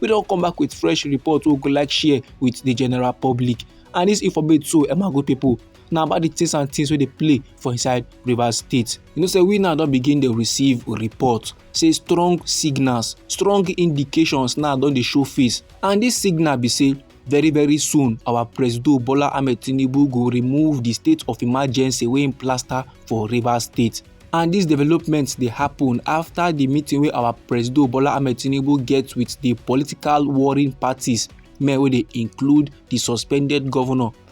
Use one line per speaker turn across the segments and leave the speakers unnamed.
we don come back with fresh report wey we go like share with the general public and this informate so emma good people na about the things and things wey dey play for inside rivers state you know say we now don begin dey receive report say strong signals strong indications now don dey show face and this signal be say Very very soon, our Presido Bola Ahmed Tinubu go remove the state of emergency wey im plaster for Rivers State. And dis development dey happen after the meeting wey our Presido Bola Ahmed Tinubu get with the political warring parties, men wey dey include the suspended governor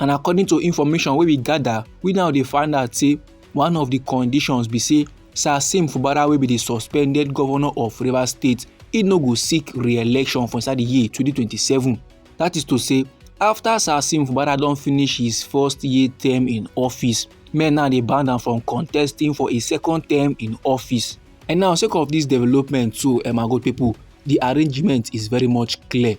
and according to information wey we gather we now dey find out say one of the conditions be say sir sim fubara wey be the suspended governor of rivers state he no go seek re-election for inside the year 2027 that is to say after sir sim fubara don finish his first year term in office men now dey ban am from contesting for a second term in office And now, sake of this development too, um, my good people, the arrangement is very much clear.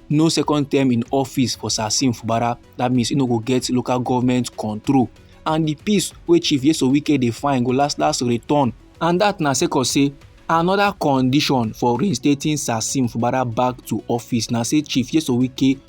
No second term in office for Sasim Fubara. That means you no go get local government control. And the peace wey Chief Yeso Wike dey find go last last return. And that na sake of say another condition for reinstating Sasim Fubara back to office na say Chief Yeso Wike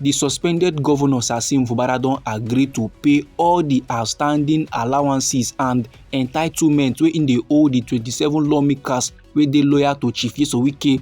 di suspended govnor sasim fubara don agree to pay all di outstanding allowances and entitlements wey im dey owe di 27 lawmakers wey dey loyal to chief yeso wike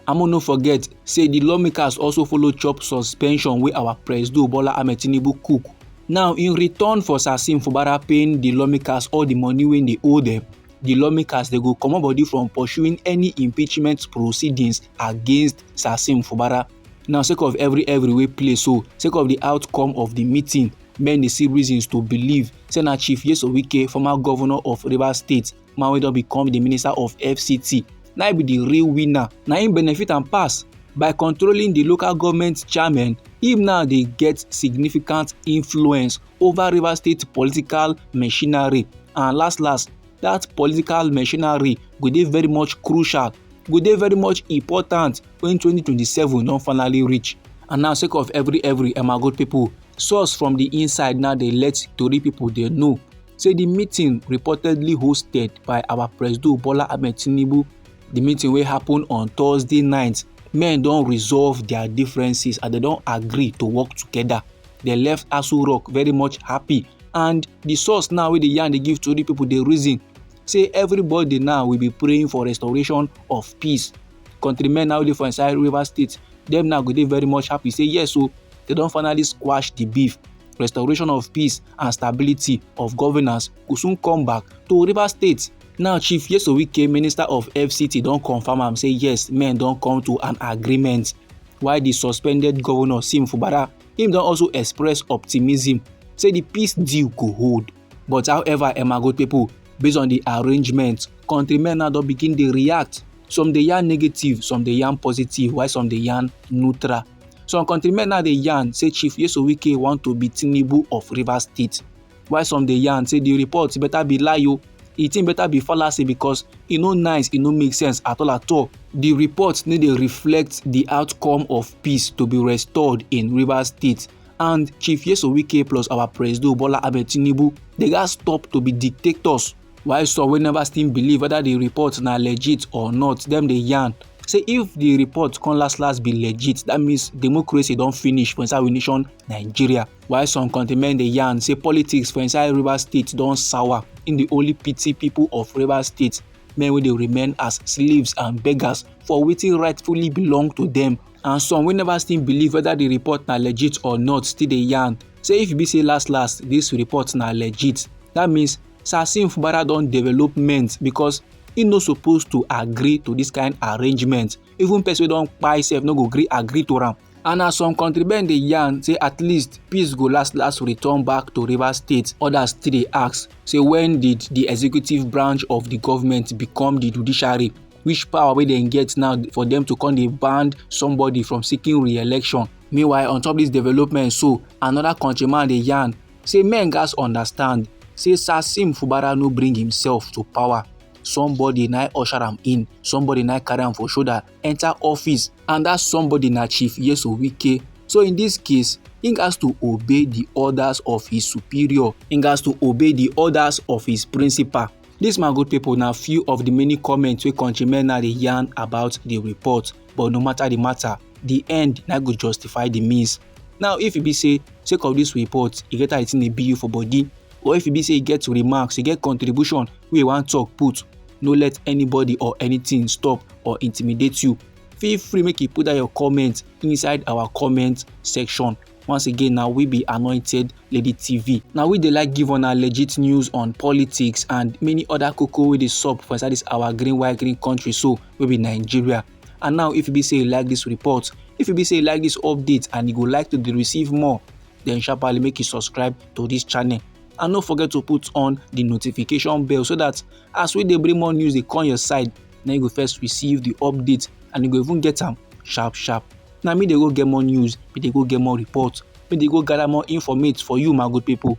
amo no forget say di lawmakers also follow chop suspension wey our presido bola ahmed tinubu cook now in return for sasim fubara paying di lawmakers all di money wey dey owe dem di lawmakers dey go comot body from pursuing any impeachment proceedings against sasim fubara Now, sake of every every wey play so, sake of the outcome of the meeting, men dey see reasons to believe say na Chief Nyesom Wike, former governor of Rivers State, man wey don become the minister of FCT, na be the real winner. Na him benefit am pass by controlling the local government chairman. Him now dey get significant influence over Rivers State political machinery and last last that political machinery go dey very much crucial go dey very much important when 2027 don finally reach and now sake of every every emagold pipo source from di inside now dey let tori pipo dey know say di meeting reportedly hosted by our presido bola ahmed tinubu di meeting wey happen on thursday night men don resolve dia differences and dem don agree to work togeda dem left aso rock very much happy and di source now wey dey yarn dey give tori pipo dey reason say everybody now will be praying for restoration of peace countrymen now dey for inside rivers state dem now go dey very much happy say yes o oh, they don finally squash the beef restoration of peace and stability of governance go soon come back to rivers state now chief yeso wike minister of fct don confam am say yes men don come to an agreement while di suspended govnor sim fubara im don also express optimism say di peace deal go hold but however emma go pipo based on di arrangement kontri men now don begin dey react some dey yarn negative some dey yarn positive while some dey yarn neutral some countrymen now dey yarn say chief yeso wike want to be tinubu of rivers state while some dey yarn say the report better be lie o oh. e thing better be fallacy because e no nice e no make sense at all at all the report no dey reflect the outcome of peace to be restored in rivers state and chief yeso wike plus our presido bola ahmed tinubu dey gats stop to be dictators while some wey never still believe whether the report na legit or not dem dey yarn say if the report come last last be legit that means democracy don finish for inside we nation nigeria while some countrymen dey yarn say politics for inside rivers state don sour in the only pity people of rivers state men wey dey remain as slaves and beggars for wetin rightfully belong to them and some wey never still believe whether the report na legit or not still dey yarn say if e be say last last this report na legit that means Sasim Fubara don develop ment because he no suppose to agree to this kind arrangement even person wey don kpai sef no go gree agree to am and as some country men dey yarn say at least peace go last last return back to rivers state others still dey ask say when did the executive branch of the government become the judiciary which power wey dem get now for them to come dey ban somebody from seeking re-election meanwhile on top this development so another countryman dey yarn say men gatz understand say Sasim Fubara no bring himself to power. Somebody na usher am in, somebody na carry am for shoulder enter office and that somebody na Chief Yeso Wike. So in this case, he has to obey the orders of his superior. He has to obey the orders of his principal. This my good people na few of the many comments wey countrymen na dey yarn about the report but no matter the matter, the end na go justify the means. now if e be say sake of this report e get how the thing dey be you for body or if e be say e get remarks e get contribution wey you wan talk put no let anybody or anything stop or intimidate you feel free make you put down your comment inside our comment section once again na we be anointed lady tv na we dey like give una legit news on politics and many other koko wey dey sup for inside this our green white green country so wey be nigeria and now if e be say you like this report if e be say you like this update and you go like to dey receive more then sharply make you subscribe to this channel and no forget to put on the notification bell so that as we dey bring more news dey come your side na you go first receive the update and you go even get am sharp sharp na me dey go get more news me dey go get more report me dey go gather more informate for you my good people